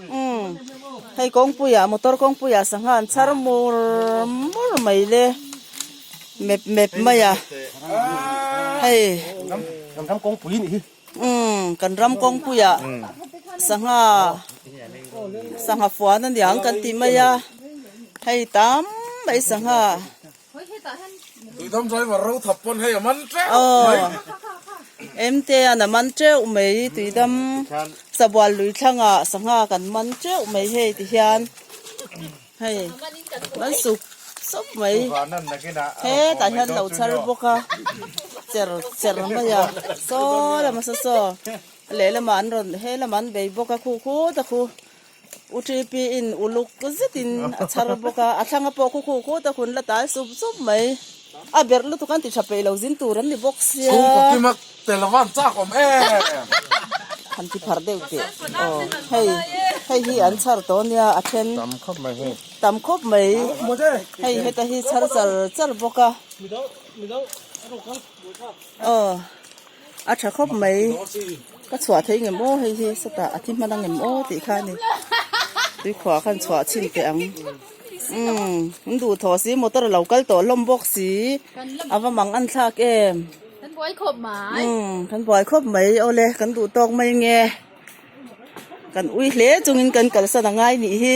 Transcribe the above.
Umm hei kawngpuiah motor kawngpuiah sangha an chhar mur mur mai le mep mep mai a hei kan ram kawngpui anih hi umm kan ram kawngpuiah sangha sangha fuan aniang kan tih mai a hei tam mai sangha. Duhdam driver ro thap pawn hei a man teuh mai. Emte an a man teuh mai Duhdam Sabual lui thlanga sangha kan man teuh mai hei ti hian. Hei kan suk sawp mai. He tah hian lo chhar bawk a cher cher mai a saw lam asa saw lehlam ah an rawn he lam ah an bei bawk a khu khu te khu. U TP in uluk zet in a chhar bawk a, a thlanga pawh khukhu khuh tak hun la tai sup sup mai. A ber lutuk an ti tha peih lo zin tur an ni bawk sia. Chhung kaw kim a tel a van chak awm em. An ti phar deuh teh. Aw hei hei hi an chhar tawh nia a then. Tam khawp mai hei. Tam khawp mai. Hei heta hi chhar char char bawk a. Aww a tha khawp mai ka chhuah thei nge maw hei hi sawtah a thi hman ang em aw tih kha a ni tuikhuah khan chhuah chhin teh ang umm in duh thaw si motor alo kal tawh hlawm bawk si a va mang an thlak em kan buai khawp mai umm kan buai khawp mai awle kan duh tawk mai nge kan ui hle chungin kan kalsan angai nih hi.